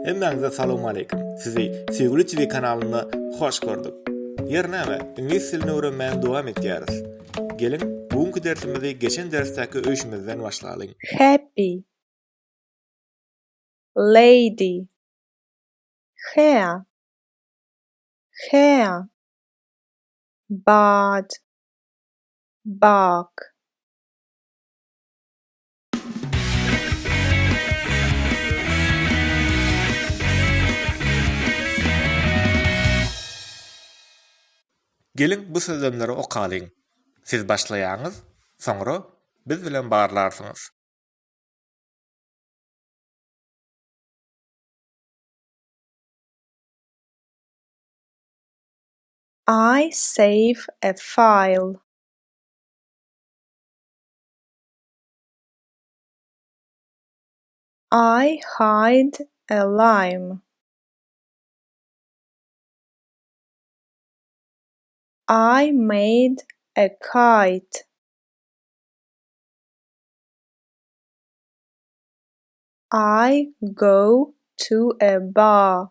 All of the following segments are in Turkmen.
Hemmäňize salowmaleýkim. Sizi Söýgüli TV kanalynda hoş gördük. Ýer näme, iňlis dilini öwrenmäge dowam etýäris. Geliň, bu günki dersimizi geçen dersdäki öýşümizden başlalyň. Happy. Lady. Hair. Hair. Bad. Bark. Geliň bu sözlemleri okalyň. Siz başlaýaňyz, soňra biz bilen barlarsyňyz. I save a file. I hide a lime. I made a kite. I go to a bar.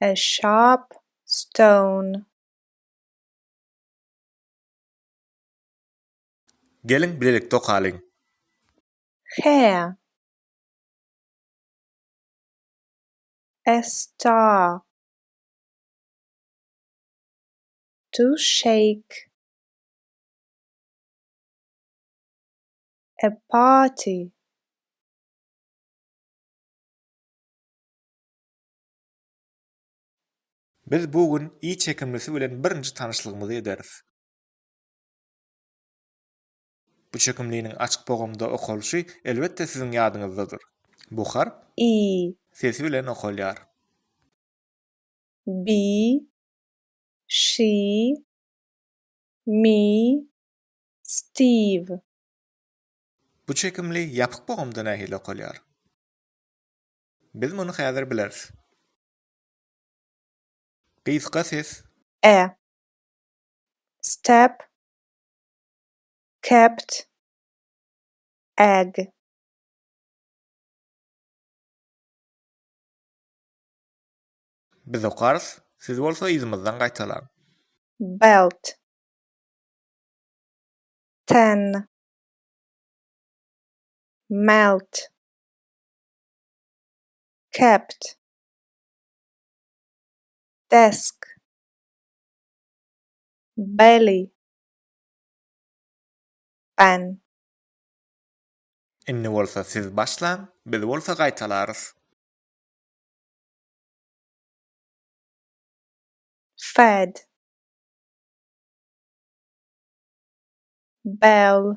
a sharp stone. Geliň bilelikde okalyň. Hair. A star. To shake. A party. Biz bu gün i çekimlisi bilen birinji tanyşlygymyzy ederis. Bu çekimliniň açyk bogamda okalyşy elbetde siziň ýadyňyzdadyr. Bu harp i. Sesi bilen okalýar. Bi, şi, mi, stiw. Bu çekimli ýapyk bogamda nähili okalýar? Biz muny häzir bileris. Gysga ses. E. Step. Kept. Ag. Biz okarys, siz bolsa yzymyzdan gaýtalaň. Belt. Ten. Melt. Kept. Desk. Belly. Ben. Indi bolsa siz başlaň, biz bolsa gaýtalarys. Fed. Bell.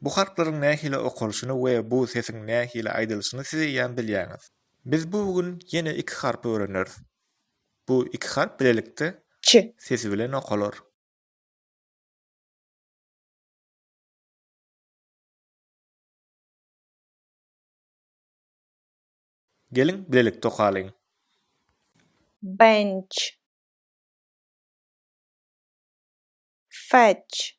Bu harplaryň nähili okalyşyny we bu sesiň nähili aýdylyşyny siz eýýäm bilýäňiz. Biz bu gün ýene iki harpy öwreneris. Bu iki harp bilelikde Ç. sesi bilen okalar. Geliň, bilelikde okalyň. Bench. Fetch.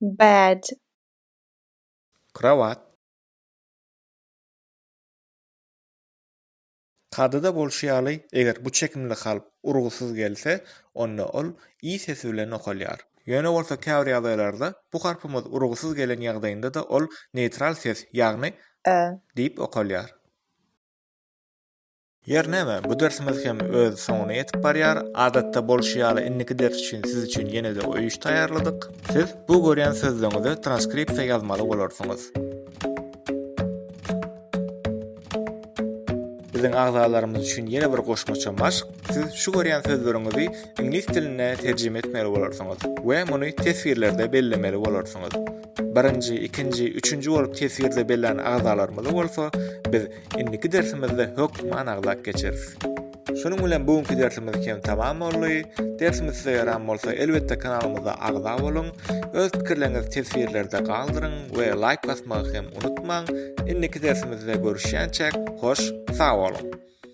Bed. Krowat. Kadyda bolşy ýaly, eger bu çekimli kalp urgusyz gelse, onda ol i sesi bilen okalýar. Ýöne bolsa käbir ýagdaýlarda bu harpymyz urgusyz gelen ýagdaýynda-da ol neýtral ses, ýagny, e, diýip okalýar. Ýer näme, bu dersimiz hem öz soňuna ýetip barýar. Adatda bolşy ýaly indiki ders üçin siz üçin ýene-de öý iş taýýarladyk. Siz bu görýän sözleriňizi transkripsiýa ýazmaly bolarsyňyz. Biziň agzalarymyz üçin ýene bir goşmaça maşk, siz şu görýän sözleriňizi iňlis diline terjime etmeli bolarsyňyz we muny teswirlerde bellemeli bolarsyňyz. Birinji, ikinji, üçünji bolup teswirde bellän agzalarymyzy bolsa biz Indiki dersimizde hökümi anyglap geçeris. Şunuň bilen bu günki dersimiz kem tamam boldy. Dersimiz size ýaran bolsa elbetde kanalymyza agza boluň. Öz pikirleriňizi teswirlerde galdyryň we laýk basmagy hem unutmaň. Indiki dersimizde görüşýänçäk hoş sag boluň.